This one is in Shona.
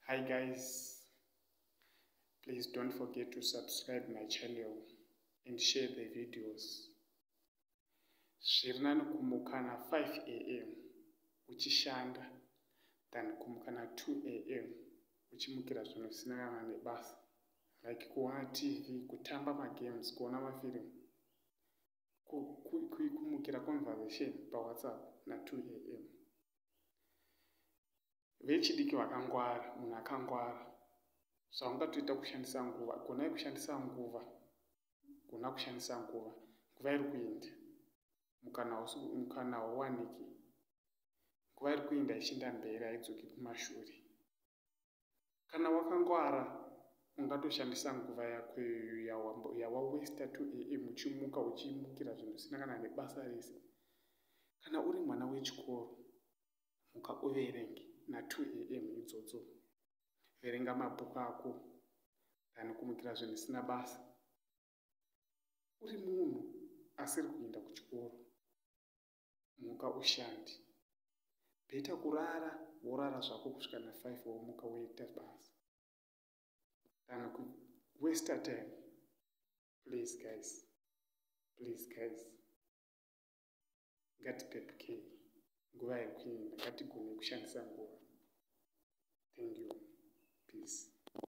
hi guys please don't forget to subscribe my channel and share the videos zviri nani kumukana 5 am uchishanda than kumukana 2 am uchimukira zvinhu zvisina kana nebasa like kuona tv kutamba magames kuona mafirimu kumukira conversation pawhatsapp na2 am vechidiki vakangwara munhu akangwara so haungatoita kushandisa nguva gonai kushandisa nguva gona kushandisa nguva nguva iri kuinda mukana hauwaniki nguva iri kuinda ichiinda mberi haidzoki kumashure kana wakangwara ungatoshandisa nguva yako yawawesta 2 am uchimuka uchimukira zvinhu zvisina kana nebasa rese kana uri mwana wechikoro muka uverenge na2 am idzodzo verenga mabhuku ako than kumukira zvinhu zvisina basa uri munhu asiri kuenda kuchikoro muka ushandi beta kurara worara zvako kusvika na five womuka woita basa kana kuwesta time please guys please guys ngatipepukei nguva yekuenda ngatigone kushandisa nguva thank you peace